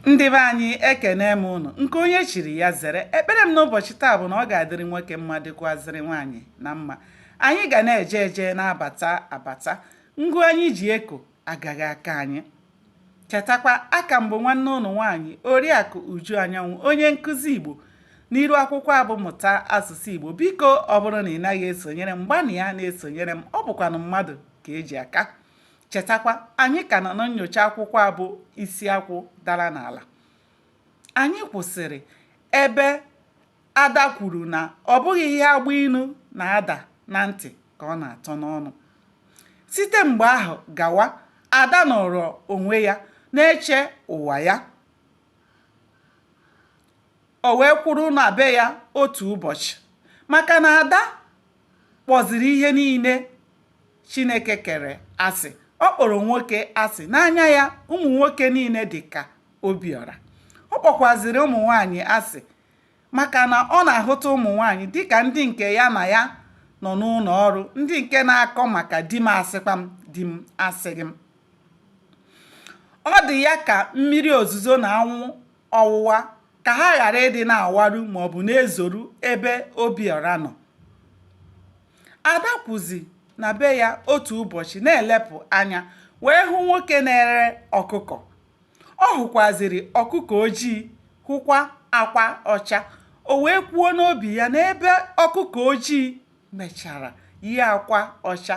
ndị be anyị ekene m ụnụ nke onye chiri ya zere ekpere m n'ụbọchị taa bụ na ọ ga-adịrị nwoke mma dịkwazịrị nwaanyị na mma anyị ga na-eje eje na-abata abata ngụ anyị ji eko agaghị aka anyị chetakwa a ka m bụ nwanne ụnụ nwaanyị oriakụ uju anyanwụ onye nkụzi igbo n'iru akwụkwọ a bụ mụta asụsụ igbo biko ọ bụrụ na ị naghị esonyere m gbanịa na-esonyere m ọ bụkwanụ mmadụ ka e ji aka Chetakwa, anyị ka nọ na nnyocha akwụkwọ a bụ Isi Akwụ Dara n'Ala. Anyị kwụsịrị ebe Ada kwuru na ọ bụghị ihe agba inu na-ada na ntị ka ọ na-atọ n'ọnụ. Site mgbe ahụ gawa, Ada nọrọ onwe ya na-eche ụwa ya. O wee kwụrụ na be ya otu ụbọchị maka na Ada kpọziri ihe niile Chineke kere asị. Ọ kpọrọ nwoke asị. N'anya ya, ụmụ nwoke niile dị ka Obiọra. Ọ kpọkwaziri ụmụ nwaanyị asị maka na ọ na-ahụta ụmụ nwaanyị dịka ndị nke ya na ya nọ n'ụlọ ọrụ, ndị nke na-akọ maka di m asịkwa m, di m asịghị m. Ọ dị ya ka mmiri ozuzo na anwụ ọwụwa ka ha ghara ịdị na-awaru maọbụ na-ezoru ebe Obiọra nọ. Ada kwuzi na be ya otu ụbọchị na-elepụ anya wee hụ nwoke na-ere ọkụkọ. Ọ hụkwaziri ọkụkọ ojii hụkwa akwa ọcha. O wee kwuo n'obi ya na ebe ọkụkọ ojii mechara yie akwa ọcha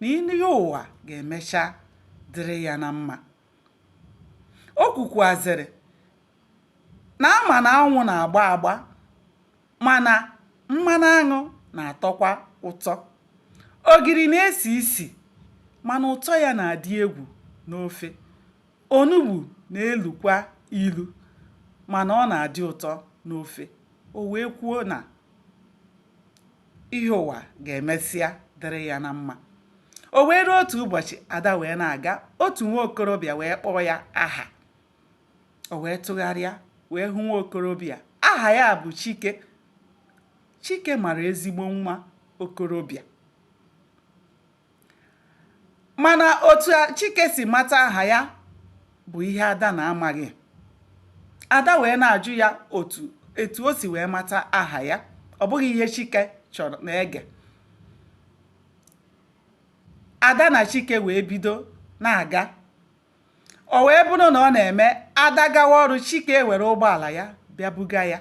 na ihe ụwa ga-emecha dịrị ya na mma. O kwukwuaziri na a ma na aṅụ na-agba agba mana mmanụ aṅụ na-atọkwa ụtọ. Ogiri na-esi isi mana ụtọ ya na-adị egwu n'ofe. Onugbu na-elukwa ilu mana ọ na-adị ụtọ n'ofe. O wee kwuo na. ihe ụwa ga-emesịa dịrị ya na mma o wee ruo otu ụbọchị ada wee na-aga otu nwa okorobịa wee kpọọ ya aha o wee tụgharịa wee hụ nwa okorobịa aha ya bụ chike chike mara ezigbo nwa okorobịa mana otu Chike si mata aha ya bụ ihe Ada na-amaghị Ada wee na-ajụ ya etu o si wee mata aha ya ọ bụghị ihe Chike chọrọ na-ege Ada na Chike wee bido na-aga o wee bụrụ na ọ na-eme ada gawa ọrụ chike ewere ụgbọala ya bịa buga ya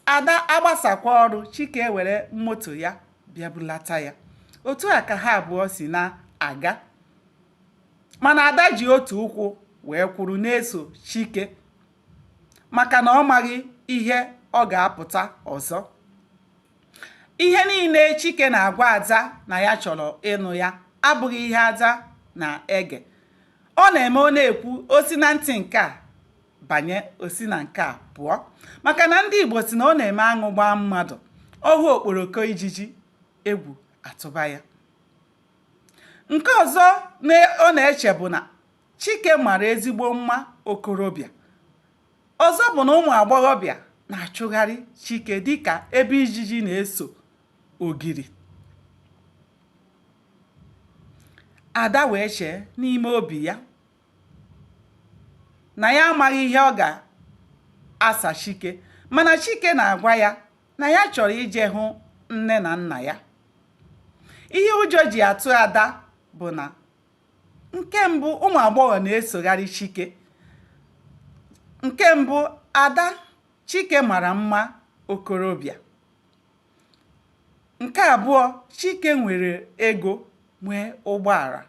ada agbasakwa ọrụ chike ewere moto ya bịa bulata ya otu a ka ha abụọ si na-aga mana ada ji otu ụkwụ wee kwụrụ na-eso chike maka na ọ maghị ihe ọ ga-apụta ọzọ ihe niile chike na-agwa ada na ya chọrọ ịnụ ya abụghị ihe ada na-ege ọ na-eme ọ na-ekwu o si na ntị nke a banye o si na nke a pụọ maka na ndị igbo si na ọ na-eme aṅụ gbaa mmadụ ọ hụ okporoko ijiji egwu atụba ya nke ọzọ ọ na-eche bụ na chike mara ezigbo mma okorobịa Ọzọ bụ na ụmụ agbọghọbịa na-achụgharị Chike dịka ebe ijiji na-eso ogiri. Ada wee chee n'ime obi ya na ya amaghị ihe ọ ga-asa Chike mana Chike na-agwa ya na ya chọrọ ije hụ nne na nna ya. Ihe ụjọ ji atụ Ada bụ na Nke mbụ, ụmụ agbọghọ na-esogharị Chike. Nke mbụ, Ada, Chike mara mma okorobịa. Nke abụọ, Chike nwere ego nwee ụgbọala.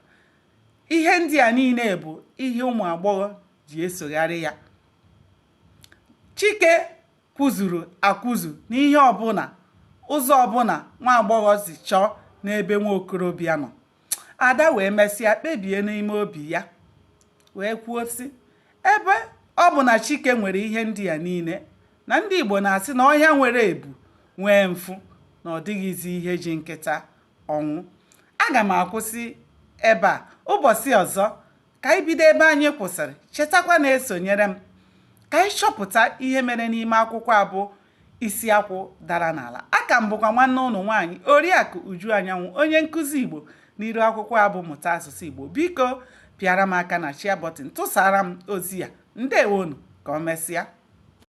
Ihe ndị a niile bụ ihe ụmụ agbọghọ ji esogharị ya. Chike kwụzuru akwụzu n'ihe ọbụla ụzọ ọbụla nwa agbọghọ si chọọ n'ebe nwa okorobịa nọ. ada wee mesịa kpebie n'ime obi ya wee kwuo sị ebe ọ bụ na chike nwere ihe ndị ya niile na ndị igbo na-asị na ọhịa nwere ebu nwee mfụ na ọ dịghịzi ihe ji nkịta ọnwụ aga m akwụsị ebe a ụbọchị ọzọ ka anyị bido ebe anyị kwụsịrị chetakwa na-esonyere m ka anyị chọpụta ihe mere n'ime akwụkwọ a bụ isi akwụ dara n'ala aka m bụkwa nwanne ụnụ nwaanyị oriakụ uju anyanwụ onye nkụzi igbo n'iru akwụkwọ a bụ mụta asụsụ igbo biko pịara m aka na share button tụsara m ozi ya ndewonụ ka ọ mesịa